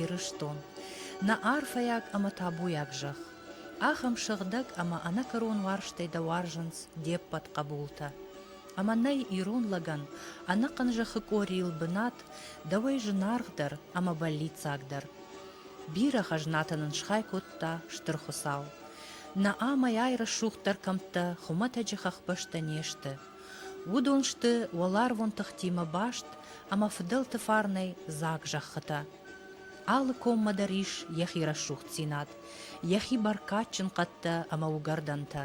Ирыстон, нӕ арфӕйаг ӕмӕ табуйаг зӕхх, ахӕм сыгъдӕг ӕмӕ ӕнӕкӕрон уарзтӕй дӕ уарзынц де ппӕт хъӕбултӕ. Ӕмӕ нӕй ирон лӕгӕн ӕнӕхъӕн зӕххы къорийыл бынат, дӕуӕй зынаргъдӕр ӕмӕ бӕллиццагдӕр. Бирӕ хӕзнатӕ нын схай кодта Стыр Хуыцау, Наамӕйӕй рӕсугъддӕр кӕмттӕ хуымӕтӕджы хӕхбӕстӕ не сты. Уыдон сты уӕларвон тыхтимӕ баст ӕмӕ фыдӕлты фарнӕй дзаг зӕххытӕ. Алы коммӕ дӕр ис йӕхи рӕсугъддзинад, йӕхи бӕркадджын хъӕдтӕ ӕмӕ уыгӕрдӕнтӕ,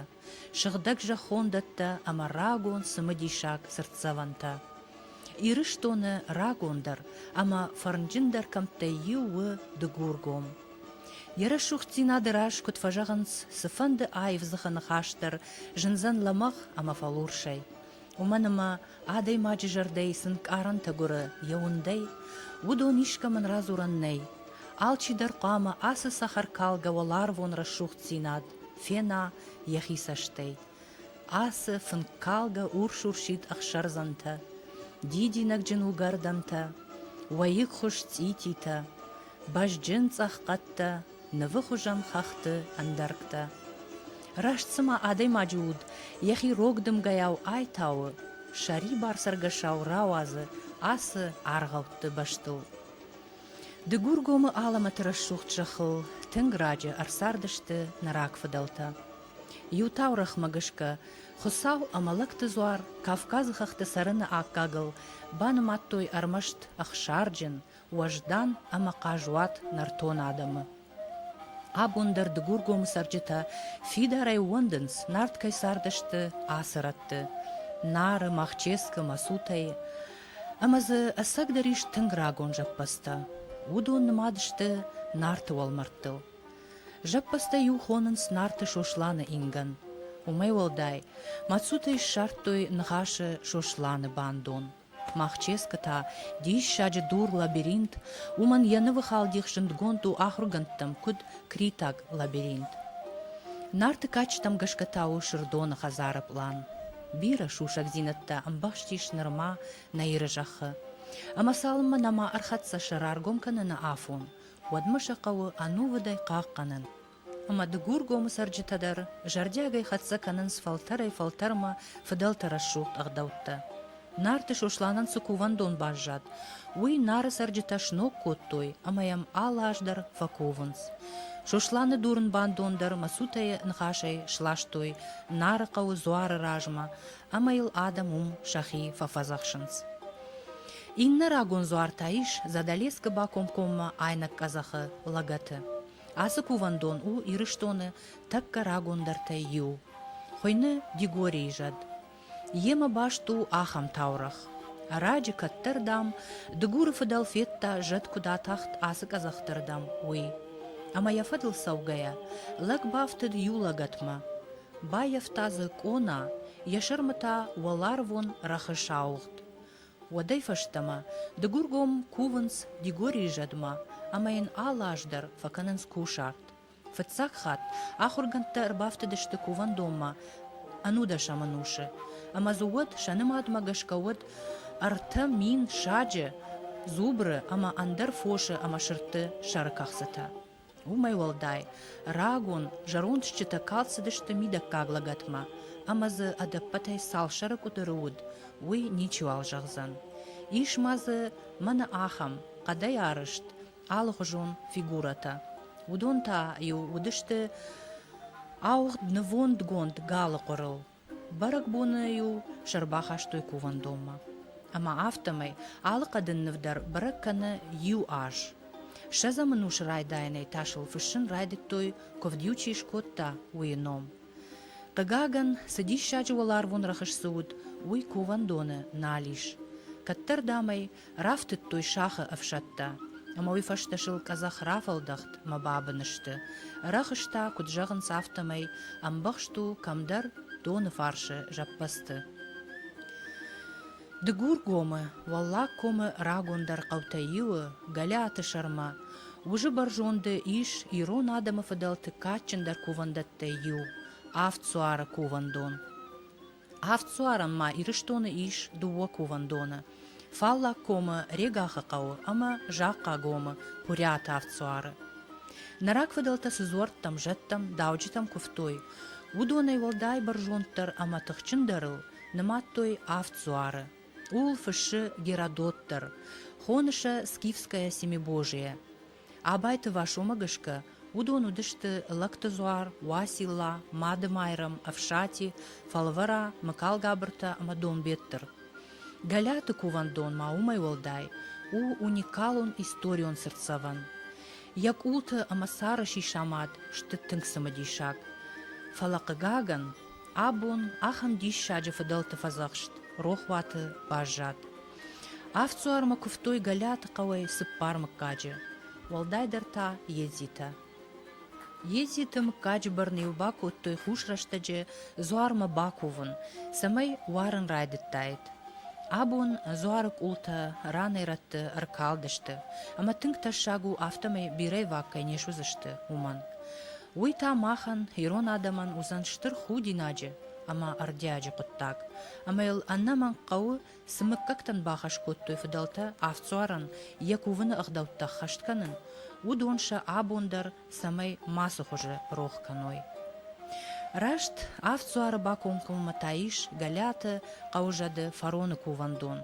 сыгъдӕг зӕххондӕттӕ ӕмӕ рагон цымыдисаг цыртдзӕвӕнтӕ. Ирыстоны рагондӕр ӕмӕ фӕрнджындӕр кӕмттӕй иу у Дыгургом. Йӕ рӕсугъддзинады раз куыд фӕзӕгъынц, цыфӕнды аив дзыхы ныхас дӕр зындзӕн лӕмӕгъ ӕмӕ фӕлурсӕй. Уымӕн ӕмӕ адӕймаджы зӕрдӕйы цы нкъарӕнтӕ гуыры йӕ уындӕй, уыдон искӕмӕн радзурӕн нӕй. Алчи дӕр хъуамӕ ацы цӕхӕркалгӕ уӕларвон рӕсугъддзинад фена йӕхи цӕстӕй. Ацы фынккалгӕ урс-урсид ӕхсӕрдзӕнтӕ, дидинӕгджын уыгӕрдӕнтӕ, уӕйыгхуыз цъититӕ, Бӕзджын цъӕх хъӕдтӕ, нывы хуызӕн хӕхты ӕндӕргтӕ. Раст цыма адӕймаджы уд йӕхи рог дымгӕйау айтауы, сӕрибар цӕргӕсау рауадзы ацы аргъӕутты бӕстыл. Дыгургомы алӕмӕты рӕсугъд зӕххыл тынг раджы ӕрцардысты нӕ рагфыдӕлтӕ. Иу таурӕгъмӕ гӕсгӕ, Хуыцау ӕмӕ лӕгты дзуар Кавказы хӕхты цӕрыны аккагыл банымадтой ӕрмӕст ӕхсарджын, уӕздан ӕмӕ хъазуат нӕртон адӕмы. Абон дӕр Дыгургомы цӕрджытӕ фидарӕй ууӕндынц, Нарт кӕй цардысты ацы рӕтты, Нары, Махческы мӕсутӕй, ӕмӕ дзы ӕцӕгдӕр ис тынг рагон зӕппӕдзтӕ. Уыдон нымад сты Нарты уӕлмӕрдтыл. Зӕппӕдзтӕ-иу хонынц Нарты Сосланы ингӕн. Уымӕй уӕлдай, мӕсутӕй ссардтой ныхасы Сосланы бандон. Махческы та, диссаджы дур-лабиринт, уымӕн йӕ нывы халдих зындгонд у ахуыргӕндтӕм куыд Критаг лабиринт. Нарты кадджытӕм гӕсгӕ та у Сырдоны хӕдзары пълан. Бирӕ сусӕгдзинӕдтӕ ӕмбӕхстис нырма нӕ Иры зӕххы. Ӕмӕ цалынмӕ нӕма ӕрхӕццӕ сӕ раргом кӕныны афон, уӕдмӕ сӕ хъӕуы ӕнувыдӕй хъахъхъӕнын, ӕмӕ Дыгургомы цӕрджытӕ дӕр зӕрдиагӕй хӕццӕ кӕнынц фӕлтӕрӕй-фӕлтӕрмӕ фыдӕлты рӕсугъд ӕгъдӕуттӕ. Нарты Сосланӕн цы кувӕндон баззад, уый Нары цӕрджытӕ сног кодтой ӕмӕ йӕм алы аз дӕр фӕкувынц. Сосланы дурын бандон дӕр мӕсутӕйы ныхасӕй сластой Нары хъӕуы дзуары размӕ ӕмӕ йыл адӕм уым сӕхи фӕфӕдзӕхсынц. Иннӕ рагон дзуар та ис Задӕлескы бакомкоммӕ айнӕг къӕдзӕхы лӕгӕты. Ацы кувӕндон у Ирыстоны тӕккӕ рагондӕртӕй иу. Хуыйны Дигорийы зӕд. Йемӕ баст у ахӕм таурӕгъ. Ӕрӕджы кӕддӕр, дам, Дыгуры фыдӕл федта, зӕд куыд атахт ацы къӕдзӕхты рдӕм, уый. Ӕмӕ йӕ фӕдыл цӕугӕйӕ, лӕг бафтыд иу лӕгӕтмӕ. Баййӕфта дзы къона, йӕ сӕрмы та уӕларвон рӕхыс ауыгъд. Уӕдӕй фӕстӕмӕ дыгургом кувынц Дигорийы зӕдмӕ ӕмӕ йын алы аз дӕр фӕкӕнынц кусарт. Фыццаг хатт ахуыргӕндтӕ ӕрбафтыдысты кувӕндонмӕ ӕнудӕсӕм ӕнусы, ӕмӕ дзы уӕд сӕ нымадмӕ гӕсгӕ уыд ӕртӕ мин саджы, дзубры ӕмӕ ӕндӕр фосы ӕмӕ сырдты сӕрыкӕхцытӕ. Уымӕй уӕлдай, рагон, зӕронд стджытӕ калд цыдысты мидӕггаг лӕгӕтмӕ, ӕмӕ дзы ӕдӕппӕтӕй цал сӕры къуыдыры уыд, уый ничиуал зӕгъдзӕн. Ис ма дзы, мӕнӕ ахӕм, хъӕдӕй арызт, алыхуызон фигурӕтӕ. Уыдон та-иу уыдысты ауыгъд нывондгонд галы хъуырыл, Бӕрӕгбоны-иу сӕ ӕрбахастой кувӕндонмӕ. Ӕмӕ афтӕмӕй алы хъӕдын ныв дӕр бӕрӕг кӕны иу аз. Ссӕдзӕм ӕнусы райдайӕнӕй та сыл фыссын райдыдтой, куывд иу чи скодта, уыйы ном. Хъыгагӕн, цы диссаджы уӕларвон рӕхыс дзы уыд, уый кувӕндоны нал ис. Кӕддӕр, дам ӕй, Рафтыдтой сахы ӕфсӕдтӕ. Ӕмӕ уый фӕстӕ сыл къӕдзӕх рафӕлдӕхт мӕ бабын сты. Ӕрӕхстӕ, куыд зӕгъынц, афтӕмӕй, ӕмбӕхст у кӕмдӕр доны фарсы зӕппӕдзты. Дыгургомы, Уӕллаг комы рагондӕр хъӕутӕй иуы, Гӕлиаты сӕрмӕ, уызы бӕрзонды ис ирон адӕмы фыдӕлты кадджындӕр кувӕндӕттӕй иу, Авд суары кувӕндон. Авдсуарӕн ма Ирыстоны ис дыууӕ кувӕндоны, Фаллаг комы Регахы хъӕуы ӕмӕ Захъхъагомы Пурӕты авдсуары. Нӕ рагфыдӕлтӕ цы дзуӕрттӕм, зӕдтӕм, дауджытӕм куывтой, уыдонӕй уӕлдай бӕрзонддӕр ӕмӕ тыхджындӕрыл нымадтой авд дзуары. Ууыл фыссы Геродот дӕр, хоны сӕ Скифское Семибожие. Абайты Васомӕ гӕсгӕ, уыдон уыдысты Лӕгты Дзуар, Уацилла, Мады-Майрӕм, Ӕфсати, Фӕлвӕра, Мыкалгабыртӕ ӕмӕ Донбеттыр. Гӕлӕты кувӕндон ма уымӕй уӕлдай у уникалон историон цыртдзӕвӕн. Йӕ къулты ӕмӕ сӕры сисамад сты тынг цымыдисаг. Фӕлӕ, хъыгагӕн, абон ахӕм диссаджы фыдӕлты фӕдзӕхст рохуаты баззад. Ӕфцуармӕ куывтой Гӕлӕты хъӕуӕй цыппар мыггаджы, уӕлдайдӕр та едзитӕ. Едзиты мыггаджы бӕрны-иу бакодтой хус рӕстӕджы дзуармӕ бакувын, цӕмӕй уарын райдыдтаид. Абон дзуары къултӕ ранӕй-рӕтты ӕркалдысты, ӕмӕ тынг тӕссаг у, афтӕмӕй бирӕвӕтк кӕй не суыдзысты, уымӕн. Уый та махӕн, ирон адӕмӕн, уыдзӕн стыр худинаджы ӕмӕ ӕрдиаджы хъуыддаг, ӕмӕ йыл ӕнӕмӕнг хъӕуы Цы мыггӕгтӕн бахӕс кодтой фыдӕлтӕ Авдсуарӕн йӕ кувыны ӕгъдӕуттӕ ӕххӕст кӕнын, уыдон сӕ абон дӕр цӕмӕй мацы хуызы рох кӕной? Раст Авдсуары бакомкоммӕ та ис Гӕлӕты хъӕузӕды фароны кувӕндон.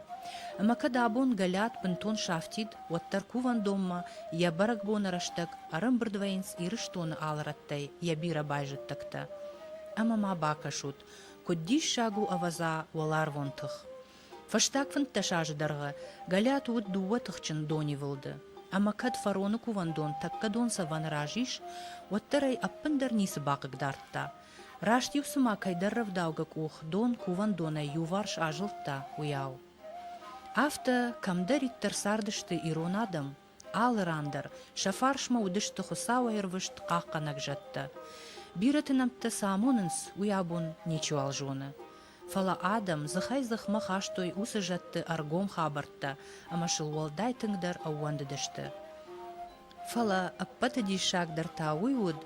Ӕмӕ кӕд абон Гӕлӕт бынтон сафтид, уӕддӕр кувӕндонмӕ йӕ бӕрӕгбоны рӕстӕг ӕрӕмбырд вӕййынц Ирыстоны алы рӕттӕй йӕ бирӕ байзӕддӕгтӕ. Ӕмӕ ма бакӕсут, куыд диссаг у, ӕвӕдза, уӕларвон тых! Фӕстаг фынддӕс азы дӕргъы Гӕлӕт уыд дыууӕ тыхджын донивылды, ӕмӕ кӕд фароны кувӕндон тӕккӕ донцӕвӕны раз ис, уӕддӕр ӕй ӕппындӕр ницы бахъыгдардта. Раст-иу цыма кӕйдӕр рӕвдаугӕ къух дон кувӕндонӕй иуварс азылдта, уыйау. Афтӕ, кӕмдӕриддӕр цардысты ирон адӕм, Алы ран дӕр сӕ фарсмӕ уыдысты Хуыцауӕй рвыст хъахъхъӕнӕг зӕдтӕ. Бирӕты нӕмттӕ цы амонынц, уый абон ничиуал зоны. Фӕлӕ адӕм дзыхӕй-дзыхмӕ хастой уыцы зӕдты ӕргом хабӕрттӕ ӕмӕ сыл уӕлдай тынгдӕр ӕууӕндыдысты. Фӕлӕ ӕппӕты диссагдӕр та уый уыд,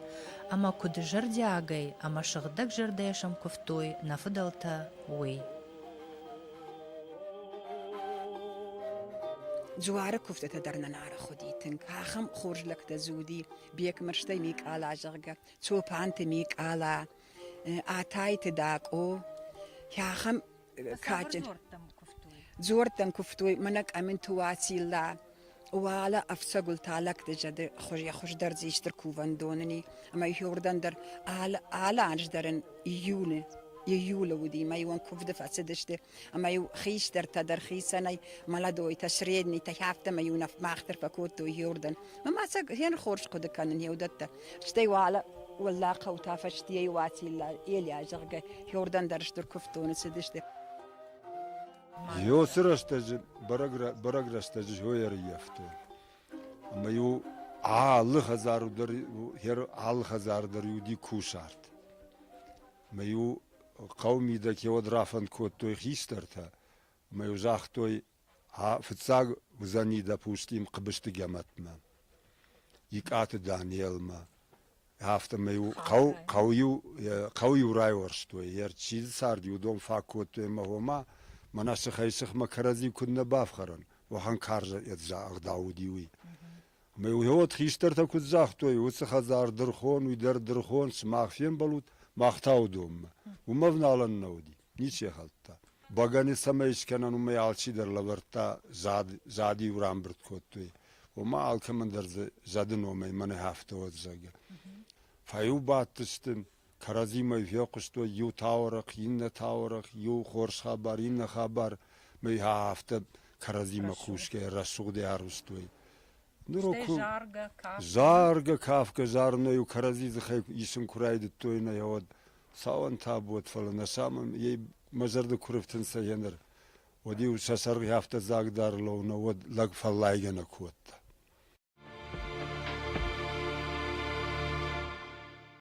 ӕмӕ куыд зӕрдиагӕй ӕмӕ сыгъдӕгзӕрдӕйӕ сӕм куывтой нӕ фыдӕлтӕ, уый. Джуары куывдтӕ дӕр нӕ нарӕх уыди тынг. Ахӕм хорз лӕгтӕ дзы уыди Бекмырзтӕй Микъала, зӕгъгӕ, Чопанты Микъала, Атайты Дакъо. Ахӕм кадджын дзордтӕн куывтой. Дзордтӕн куывтой, мӕнӕ Къӕминты Уацилла, Уӕлӕ ӕфцӕгыл та лӕгтызӕды хуыз йӕ хуыздӕр дзы исты кувӕндоны ни, ӕмӕ иуырдӕм дӕр алы, алы аз дӕр ын июны июлы уыди, мӕ-иу ын куывды фӕцыдысты, ӕмӕ-иу хистӕртӕ дӕр хицӕнӕй, молодойтӕ, среднитӕ, афтӕмӕй-иу нӕ мах дӕр фӕкодтой иуырдӕм. Мӕ мацӕг гъеныр хорз хъуыды кӕнын йе уыдӕттӕ. Стӕй уӕлӕ уӕллӕ хъӕу та фӕстийӕ-иу Уацилла, Элиа, зӕгъгӕ, иуырдӕм дӕр стыр куывддоны цыдысты. Иосы рӕстӕджы бӕрӕг рӕстӕджы зойӕ ӕрыййӕфтой. Ӕмӕ-иу алы хӕдзару дӕр, алы хӕдзары дӕр уыди кусарт. Ӕмӕ-иу хъӕу мидӕг кewӕд рафӕнд кодтой хистӕртӕ, ӕмӕ-иу загътой, фыццаг уыдзӕни дӕ Пушкин Хъыбысты Гӕмӕтмӕ, Икъаты Данелмӕ, Афтӕмӕй-иу хъӕу, хъӕу-иу, хъӕу-иу райуӕрстой, йе рчил цард иу дон фӕкодтой ӕмӕ гъомӕ, мӕнӕ сыхӕй-сыхмӕ кӕрӕдзи куыд нӕ бафхӕрӕн, уӕхӕн карз ӕгъдау уыди уый. Ӕмӕ уыд хистӕртӕ куыд загътой, уыцы хӕдзар дырхон, уый дӕр дырхон, сымах фембӕлут, мах та уыдонмӕ. Уымӕ ӕвналӕн нӕ уыди. Ничи хӕлдта. Бӕгӕни цӕмӕй искӕнӕн, уымӕй алчидӕр лӕвӕрдта зад, зади-иу рамбырд кодтой. Ома алкӕмӕн дӕр дзы зӕды номӕй мӕнӕ афтӕ уӕд, зӕгъгӕ. Фӕиу бадтысты, кӕрӕдзимӕ фехъуыстой иу таурӕхъ, иннӕ таурӕхъ, иу хорз хабар, иннӕ хабар, мӕй афтӕ кӕрӕдзимӕ кусгӕ рӕсугъдӕй арвыстой. заргӕ кафгӕ зарынӕй-иу кӕрӕдзи дзыхӕй исын куы райдыдтой нӕ уӕд цауӕн табуӕт, фӕлӕ нӕ самын ей мӕ зӕрды куы рыфтынцӕ гьеныр, уӕд-иу сӕ сӕргъи афтӕ дзаг дӕр лӕуна, уӕд лӕг фӕллайгӕ нӕ кодта.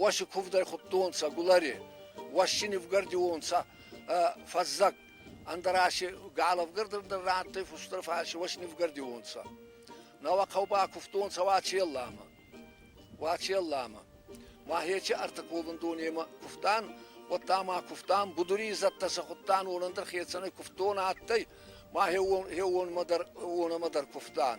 уоси кувдӕй худтонцӕ гулари уоси нивгардионцӕ фӕззӕг ӕндӕраси галӕвгардӕр рандтӕй фустӕр фарси уоси нивгардионцӕ науӕ хъӕубӕ кувтонцӕ Уачелламӕ Уачелламӕ ма хечи ӕртӕковӕндонемӕ кувтан уӕдта ма кувтан будури изӕдтӕ сӕ худтан уонӕндӕр хецӕнӕй кувтон адтӕй ма хеуонмӕ дӕр кувтан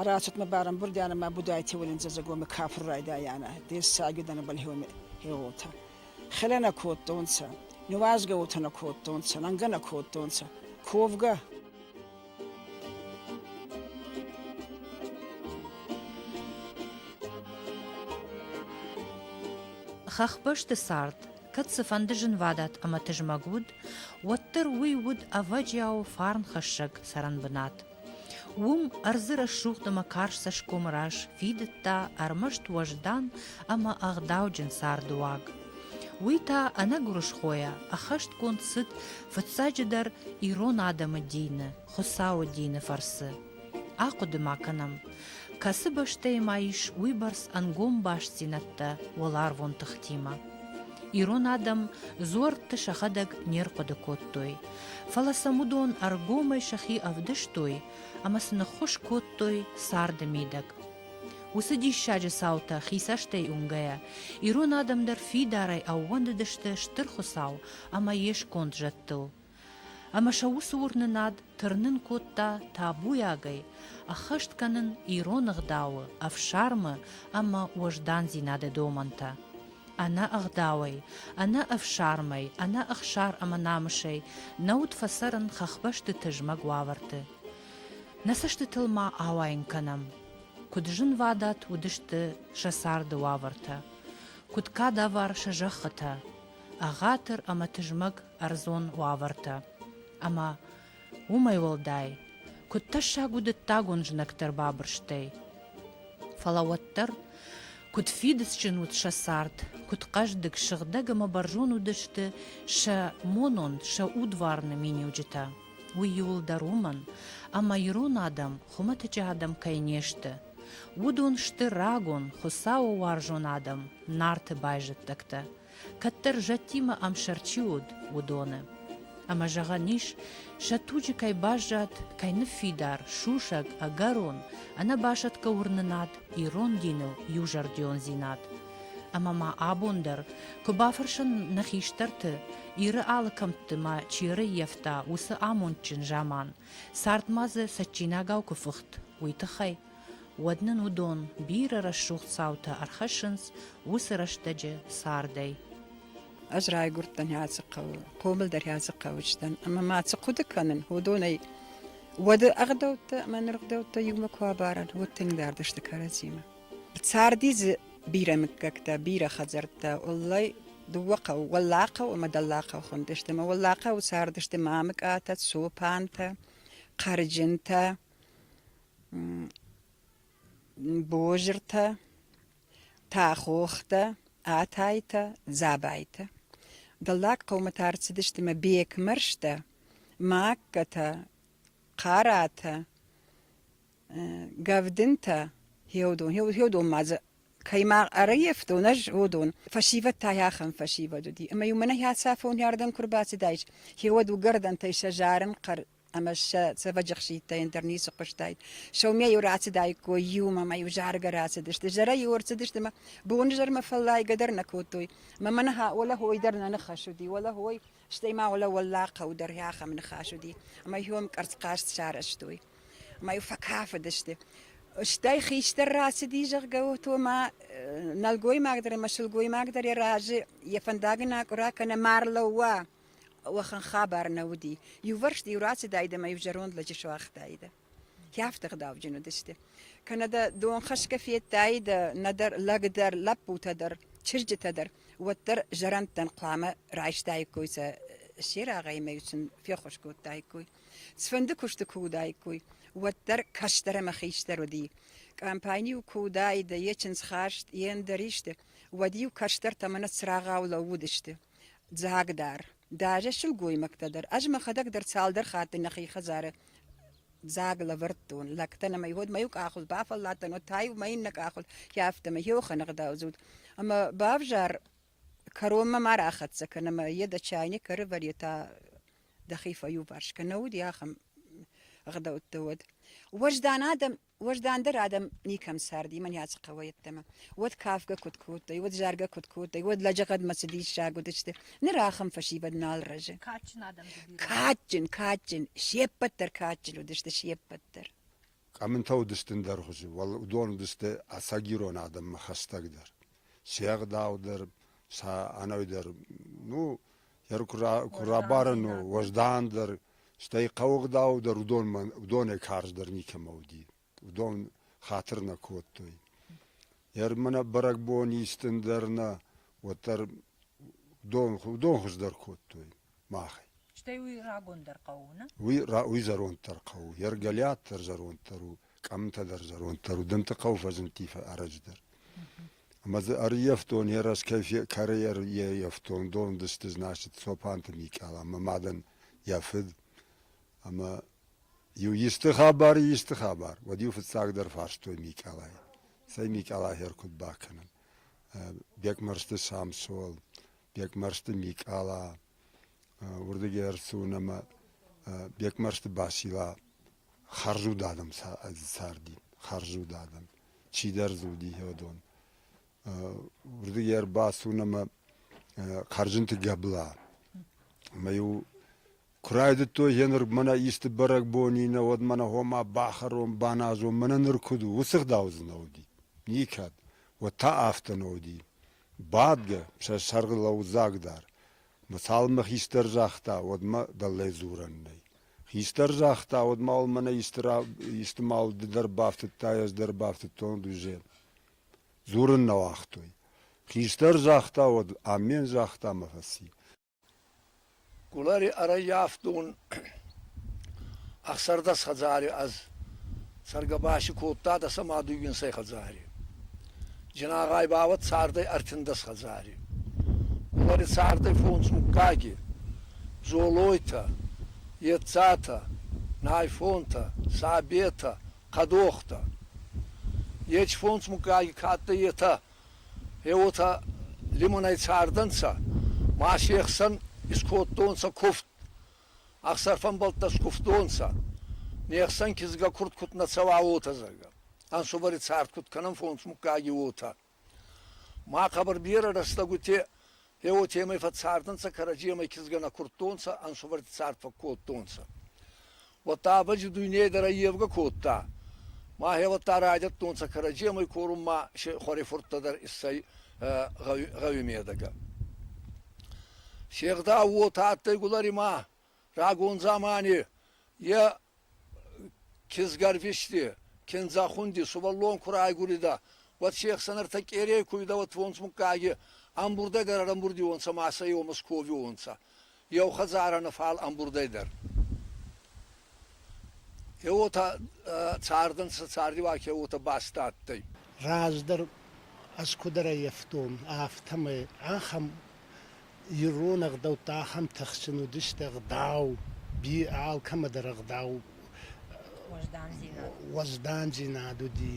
Арацатмӕ барамбурдианӕ ма будайти уолинза загоми кафур райдайанӕ, дессаги данабал хеуми хегъолта. Хеле нӕ кодтонцӕ, нуазгӕутӕ нӕ кодтонцӕ, нангӕ нӕ кодтонцӕ, ковгӕ Хӕхбӕсты цард, кӕд цыфӕнды зынвадат ӕмӕ тызмӕг уыд, уӕддӕр уый уыд ӕвӕджиау фарнхӕссӕг цӕрӕнбынат. Уым ӕрдзы рӕсугъд ӕмӕ карз цӕсгомы раз фидыдта ӕрмӕст уӕздан ӕмӕ ӕгъдауджын цардыуаг. Уый та ӕнӕгуырысхойӕ ӕххӕстгонд цыд фыццаджыдӕр ирон адӕмы дины, Хуыцауы дины фӕрцы. Ахъуыды ма кӕнӕм, кӕцы бӕстӕйы ма ис уыйбӕрц ӕнгом бастдзинӕдтӕ уӕларвон тыхтимӕ. Ирон адӕм дзуӕртты сӕхӕдӕг не рхъуыды кодтой, фӕлӕ сӕм уыдон ӕргомӕй сӕхи ӕвдыстой ӕмӕ сын ӕххуыс кодтой царды мидӕг. Уыцы диссаджы цаутӕ хи цӕстӕй уынгӕйӕ, ирон адӕм дӕр фидарӕй ӕууӕндыдысты Стыр Хуыцау ӕмӕ йе сконд зӕдтыл. Ӕмӕ сӕ уыцы уырнынад тырнын кодта табуйагӕй ӕххӕст кӕнын ирон ӕгъдауы, ӕфсармы ӕмӕ уӕздандзинады домӕнтӕ. Ӕнӕ ӕгъдауӕй, ӕнӕ ӕфсармӕй, ӕнӕ ӕхсар ӕмӕ намысӕй нӕ уыд фӕцӕрын хӕхбӕсты тызмӕг уавӕрты. Нӕ цӕстытыл ма ауайын кӕнӕм, куыд зынвадат уыдысты сӕ царды уавӕртӕ, куыд кадавар сӕ зӕххытӕ, ӕгъатыр ӕмӕ тызмӕг ӕрдзон уавӕртӕ ӕмӕ Уымӕй уӕлдай, куыд тӕссаг у дыддагон знӕгтӕ рбабырстӕй. Фӕлӕ уӕддӕр, куыд фидыцджын уыд сӕ цард, куыд хъӕздыг, сыгъдӕг ӕмӕ бӕрзон уыдысты сӕ монон, сӕ удварны миниуджытӕ, уый иуылдӕр уымӕн, ӕмӕ ирон адӕм хуымӕтӕджы адӕм кӕй не сты, уыдон сты рагон, Хуыцауы уарзон адӕм, Нарты байзӕддӕгтӕ, кӕддӕр зӕдтимӕ ӕмсӕр чи уыд, уыдоны. Ӕмӕ зӕгъӕн ис, сӕ туджы кӕй баззад, кӕй ныффидар, сусӕг, ӕгӕрон, ӕнӕбасӕтгӕ уырнынад, ирон диныл иузӕрдиондзинад. Ӕмӕ ма абон дӕр, куы бафӕрсын нӕ хистӕрты, Иры алы кӕмтты ма чи ӕрӕййӕфта, уыцы амондджын заман, цард ма дзы цӕджджинагау куы фыхт, уый тыххӕй. Уӕд нын уыдон бирӕ рӕсугъд цаутӕ ӕрхӕссынц уыцы рӕстӕджы цардӕй. Ӕз райгуырдтӕн Хьӕцыхъӕуы, хъомыл дӕр Хьӕцыхъӕуы сдӕн, ӕмӕ ма цы хъуыды кӕнын, уыдонӕй уӕды ӕгъдӕуттӕ ӕмӕ ныр гъдӕуттӕ иумӕ куы абарӕн, уыд тынг дард сты кӕрӕдзимӕ. Царди дзы бирӕ мыггӕгтӕ, бирӕ хӕдзӕрттӕ. Уӕллӕй, дыууӕ хъӕуы, Уӕллахъӕу ӕмӕ Дӕллахъӕу хуындысты, ӕмӕ Уӕллахъӕуы цардысты Мамыкъатӕ, Цопантӕ, Хъӕрджынтӕ. Бозыртӕ, тӕхохтӕ, атайтӕ, дзабайтӕ. Дӕллаг хъӕумӕ та ӕрцыдысты мӕ бекмӕрзтӕ, маккӕтӕ, хъаратӕ, гӕвдынтӕ, гьеодон. Гьеодон ма дзы кӕй ма ӕрӕййӕфтон ӕз, гьеодон. Фӕсивӕд та й ахӕм фӕсивӕд уыди. Ӕмӕ-иу мӕнӕ хӕцафон уӕрдӕн куы рбацыдаис, гьеуӕд уыгӕрдӕнтӕй сӕ зарын хъӕр ӕмӕ сӕ цӕвӕджы хситтӕй ӕндӕр ницы хъуыстаид. Сӕумӕ-иу рацыдаиккой иумӕ ӕмӕ-иу заргӕ рацыдысты, зӕрӕ-иу ӕрцыдысты ӕмӕ бонзӕрмӕ фӕллайгӕ дӕр нӕ кодтой. Мӕ ныхас уӕлӕ хой дӕр нӕ ныхас уыди, уӕлӕ хой, стӕй ма уӕлӕ уӕллаг хъӕу дӕр ахӕм ныхас уыди, ӕмӕ иуӕм къӕрцхъаст сарӕзтой ӕмӕ-иу фӕкафыдысты. Стӕй хистӕр рацыди, зӕгъгӕ, то ма нӕлгоймаг дӕр ӕмӕ сылгоймаг дӕр йӕ разы йӕ фӕндагӕн акъуыра кӕнӕ ма рлӕууа, уӕхӕн хабар нӕ уыди. Иувӕрсты иу рацыдаид ӕмӕ иу зӕронд лӕджы суагътаидӕ. Кӕфты гъдауджын уыдысты. Кӕнӕ дӕ дон хӕсгӕ федтаидӕ нӕдӕр лӕг дӕр, лӕппутӕ дӕр, чызджытӕ дӕр, уӕддӕр зӕрӕндтӕн хъуамӕ райстаиккой сӕ се рагъӕй ӕмӕ сын феххуыс кодтаиккой. Цыфӕнды куысты куы уыдаиккой, уӕддӕр кӕстӕр ӕмӕ хистӕр уыди. Къампайн-иу куы уыдаид, йӕ чындзхаст, йе ндӕр исты, уӕд-иу кӕстӕртӕ мӕнӕ цырагъау лӕууыдысты. Дзӕгдар, дӕрзӕг сылгоймӕгтӕ дӕр ӕз мӕхӕдӕг дӕр цалдӕр хатты нӕхи хӕдзары дзаг лӕвӕрдтон лӕгтӕн ӕмӕ уӕд мӕ иу къахыл бафӕлладтӕн, уӕд та иу мӕ иннӕ къахыл, хи афтӕ мӕ хъӕугъдӕудзут. Ӕмӕ бавзар кӕронмӕ ма рахӕццӕ кӕн ӕмӕ йе дӕ чайник ӕрывӕр йе та дӕхи фӕиуварс кӕ. Нӕ уыди ахӕм ӕгъдӕуттӕ уӕд. Уӕздан адӕм Уӕздандӕр адӕм никӕм царди Маниаци хъӕуӕй йеддӕмӕ. Уӕд кафгӕ куыд кодтой, уӕд заргӕ куыд кодтой, уӕд лӕджыгъӕдмӕ цы диссаг уыдысты, ныр ахӕм фӕсивӕд нал рӕзы. Кадджын адӕм дзы бирӕ. Кадджын, кадджын, се ппӕт дӕр кадджын уыдысты, се ппӕт дӕр. Къӕмынтӕ уыдысты ӕндӕргъуызы, уал уыдон уыдысты ӕцӕгирон адӕммӕ хӕстӕгдӕр. Се ӕгъдау дӕр, сӕ ӕнӕуи дӕр, ну, куы рабарын уӕздандӕр, стӕй хъаугъдаудӕр уыдонмӕ уыдонӕй карздӕр никӕмӕ уыди. Уыдон хатыр нӕ кодтой. Ермӕ бӕрӕгбон истын дӕр нӕ, уӕддӕр уыдон, уыдон хуыздӕр кодтой махӕй. Стӕй уый рагондӕр хъӕу у, нӕ? Уый, уый зӕронддӕр хъӕу у. Ергӕлиат дӕр зӕронддӕр у. къамтӕ дӕр зӕронддӕр уыдӕнты хъӕуы фӕзынди фӕӕрӕдждӕр. Ӕмӕ дзы ӕрйӕфтон йӕ раз кӕй кӕрӕй ӕрйӕфтон, дондысты значит Цопанты Микъал ӕмӕ мадӕн йӕ фыд. Ӕмӕ иу исты хабар, исты хабар, уӕд-иу фыццагдӕр фарстой Микъалай. Цӕй Микъала хер куыд бакӕнӕм? Бекмӕрзты Самсон, Бекмӕрзты Микъала, уырдыгӕй ӕрцуын ӕмӕ Бекмӕрзты Басила Хӕрзуд адӕм царди, хӕрзуд адӕм, чидӕр дзуди иодон. Уырдыгӕй ӕрбацуын ӕмӕ Хӕрзынты Гӕбла. Ӕмӕ-иу куы райдыдтой гъеныр мӕнӕ исты бӕрӕгбон и нӕ, уӕд мӕнӕ гъома бахӕрон, баназон, мӕнӕ ныр куыд у, уыцы гъдау дзы нӕ уыди. Никӕд. Уӕд та афтӕ нӕ уыди. Бадгӕ, сӕ сӕргъы лӕудзаг дӕр. Мӕсалмӕ хистӕр загъта, уӕд мӕ дӕллӕй дзурӕн нӕй. Хистӕр загъта, уӕд ма уал мӕнӕ исты мал ды дӕр бафтыдтай, ӕз дӕр бафтыдтон дузе. Дзурын нӕ уагътой. Хистӕр загъта, уӕд амен загъта мӕ фӕци. Гулари ӕрӕййафтон ӕхсӕрдӕс хӕдзари ӕз. Цӕргӕбаси кодта дӕ сӕ мадуйгинсӕй хӕдзари. Зинагъай бауӕд цардӕй ӕртиндӕс хӕдзари. Гулӕри цардӕй фондз муггаги, Дзолойтӕ, Ецатӕ, Найфонтӕ, Сабетӕ, Хъӕдохтӕ. Ечи фондз муггаги кӕддӕр етӕ, е уотӕ лимонӕй цардӕнцӕ, ма се хсӕн искодтонцӕ куфт, Ӕхсар фӕмбӕлттӕ скувтонцӕ. Не хсӕн кизгӕ курд куд нӕ цӕуа, уотӕ, зӕгъгӕ. Ӕнсувӕри цард куд кӕнӕн фонс муггаги, уотӕ. Ма хъӕбӕр берӕ рӕстӕгути е уотемӕй фӕццардӕнцӕ, кӕрӕдземӕй кизгӕ нӕ курдтонцӕ, ӕнсувӕрти цард фӕккодтонцӕ. Уӕдта Абӕджи дуйне дӕр ӕййевгӕ кодта. Мӕхе уӕдта райдӕдтонцӕ кӕрӕдземӕй корун ма се хуӕрифурттӕ дӕр иссӕй гъӕуи медӕгӕ. Се гъдау уотӕ адтӕй Гуларимӕ, рагон дзамани е кизгӕрвисти, киндзӕхунди сувӕллон ку райгуридӕ, уӕд се хсӕн ӕртӕ къерей ку уидӕ, уӕд фондз муггаги ӕмбурдӕг ӕрӕрӕмбурдиуонцӕ ма сӕ еумӕ сковиуонцӕ. Еу хӕдзарӕ нӕ фал ӕмбурдӕй дӕр. Еуотӕ цардӕнцӕ цардиуагӕ уотӕ баст адтӕй. Раздӕр ӕз куд ӕрӕййафтон, афтӕмӕй ахӕм ирон ӕгъдӕуттӕ, ахӕм тыхджын уыдысты ӕгъдау, би алкӕмӕдӕр ӕгъдау уӕздандзинад уӕздандзинад уыди.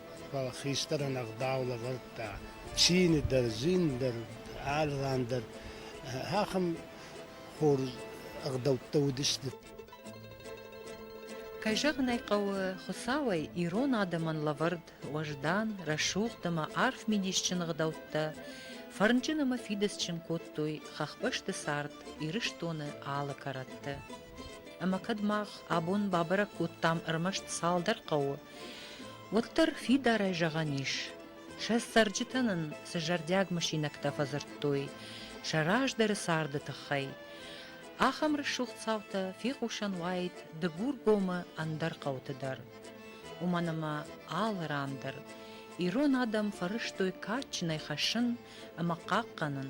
Фал хистӕрӕн ӕгъдау лӕвардта, цийни дӕр, зин дӕр, алы ран дӕр. Ахӕм хорз ӕгъдӕуттӕ уыдысты. Кӕй зӕгъын ӕй хъӕуы, Хуыцауӕй ирон адӕмӕн лӕвӕрд уӕздан, рӕсугъд ӕмӕ арф мидисджын ӕгъдӕуттӕ фӕрнджын ӕмӕ фидыцджын кодтой хӕхбӕсты цард Ирыстоны алы кӕрӕтты. Ӕмӕ кӕд мах абон бабӕрӕг кодтам ӕрмӕст цалдӕр хъӕуы, уӕддӕр фидарӕй зӕгъӕн ис, сӕ цӕрджытӕ нын цы зӕрдиаг мысинӕгтӕ фӕдзырдтой сӕ раздӕры царды тыххӕй, ахӕм рӕсугъд цаутӕ фехъусӕн уаид Дыгургомы ӕндӕр хъӕуты дӕр. Уымӕн ӕмӕ алы ран дӕр ирон адӕм фӕрӕзтой кадджынӕй хӕссын ӕмӕ хъахъхъӕнын